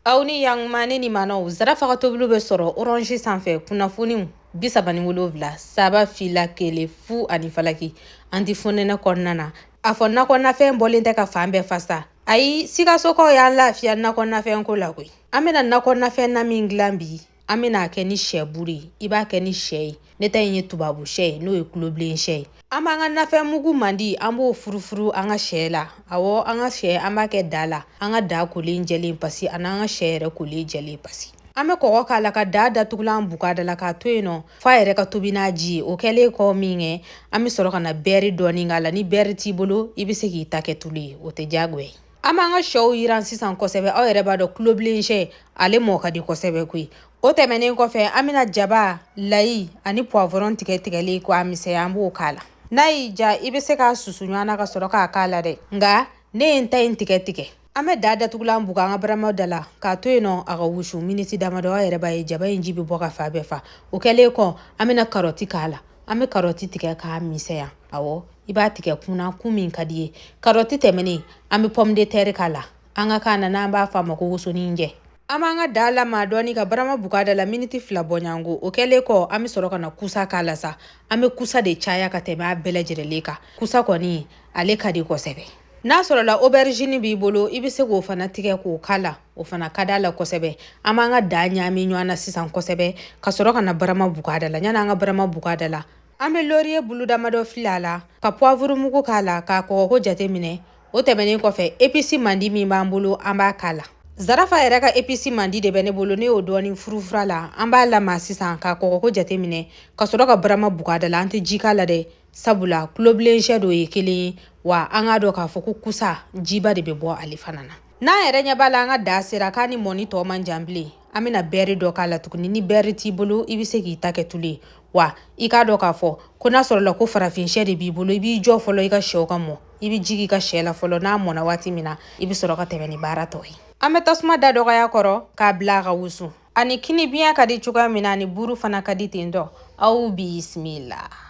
aw ni yankumani ni manaw zarafa ka tobili bɛ sɔrɔ orange sanfɛ kunnafoniw bi saba ni wolonwula saba fila kelen fu ani falaki an ti fonɛnɛ kɔnɔna na a fɔ nakɔnafɛn bɔlen tɛ ka fan bɛɛ fa sa ayi sikasɔkaw y'an lafiya nakɔnafɛnko la koyi an bɛna nakɔnafɛn na min dilan bi an bɛna kɛ ni sɛ buru ye i b'a kɛ ni sɛ ye ne ta in ye tubabu sɛ ye n'o ye tulobilen sɛ ye an b'an ka nafɛn mugu mandi an b'o furufuru an ka sɛ la awɔ an ka sɛ an b'a kɛ da la an ka da kolen jɛlen pasi ani an ka sɛ yɛrɛ kolen jɛlen pasi an bɛ kɔgɔ k'a la ka daa datugulan buka da la k'a to yen nɔ f'a yɛrɛ ka tobi n'a ji ye o kɛlen kɔ min kɛ an bɛ sɔrɔ ka na bɛɛri dɔɔni k'a la ni bɛɛri t'i bolo i bɛ se k'i ta kɛ tulu ye o tɛ diyagoya ye An b'an ka sɛw yiran sisan kosɛbɛ aw yɛrɛ b'a dɔn tulobilen sɛ ale mɔ ka di kosɛbɛ koyi o tɛmɛnen kɔfɛ an bɛna jaba layi ani poivron tigɛ tigɛlen ko a misɛya an b'o k'a la n'a y'i ja i bɛ se k'a susu ɲɔgɔn na ka sɔrɔ k'a k'a la dɛ nka ne ye n ta in tigɛ tigɛ an bɛ da datugulan buga an ka barama da la k'a to yen nɔ a ka wusu miniti damadɔ aw yɛrɛ b'a ye jaba in ji bɛ bɔ ka fan bɛɛ fa o kɛlen kɔ an bɛna karɔti k'a la an bɛ karɔti tigɛ k'a misɛya Awɔ i b'a tigɛ kun na kun min ka d'i ye karɔti tɛmɛnen an bɛ pomme de terre k'a la an ka kan na n'an b'a fɔ a ma ko wosonin jɛ an b'an ka daa lama dɔɔni ka barama buga da la miniti fila bɔɲango o kɛlen kɔ an bɛ sɔrɔ ka na kusa k'a la sa an bɛ kusa de caya ka tɛmɛ a bɛɛ lajɛrɛlen kan kusa kɔni ale ka di kosɛbɛ n'a sɔrɔla aubergine b'i bolo i bɛ se k'o fana tigɛ k'o k'a la o fana ka d'a la kosɛbɛ an b'an ka daa ɲaami ɲɔgɔn na sisan kosɛbɛ ka sɔrɔ ka na barama buga da la yan'an ka barama buga da la an bɛ lɔriye bulu damadɔ fili a la ka poivre mugu k'a la k'a kɔgɔko jateminɛ o tɛmɛnen kɔfɛ episi mandi min b'an bolo an b'a k'a la zarafa yɛrɛ ka episi mandi de bɛ ne bolo ne y'o dɔɔni furufuru a la an b'a lama sisan k'a kɔgɔko jateminɛ ka sɔrɔ ka barama buga da la an tɛ ji k'a la dɛ sabula tulobilen sɛ don o ye kelen ye wa an k'a dɔn k'a fɔ ko kusa jiba de bɛ bɔ ale fana na n'an yɛrɛ ɲɛ b'a la an ka da sera k'a ni mɔni tɔ man jan bilen an bɛna bɛɛri dɔ k'a la tuguni ni bɛɛri t'i bolo i bɛ se k'i ta kɛ tulu ye wa i k'a dɔn k'a fɔ ko n'a sɔrɔla ko farafin sɛ de b'i bolo i b'i jɔ fɔlɔ i ka sɛw ka mɔ i bɛ ji k'i ka sɛ la fɔlɔ n'a mɔna waati min na i bɛ sɔrɔ ka tɛmɛ ni baara tɔ ye an bɛ tasuma da dɔgɔya a kɔrɔ k'a bila a ka wusu a ni kini biɲɛ ka di cogoya min na a ni buru fana ka di ten dɔ aw bisimila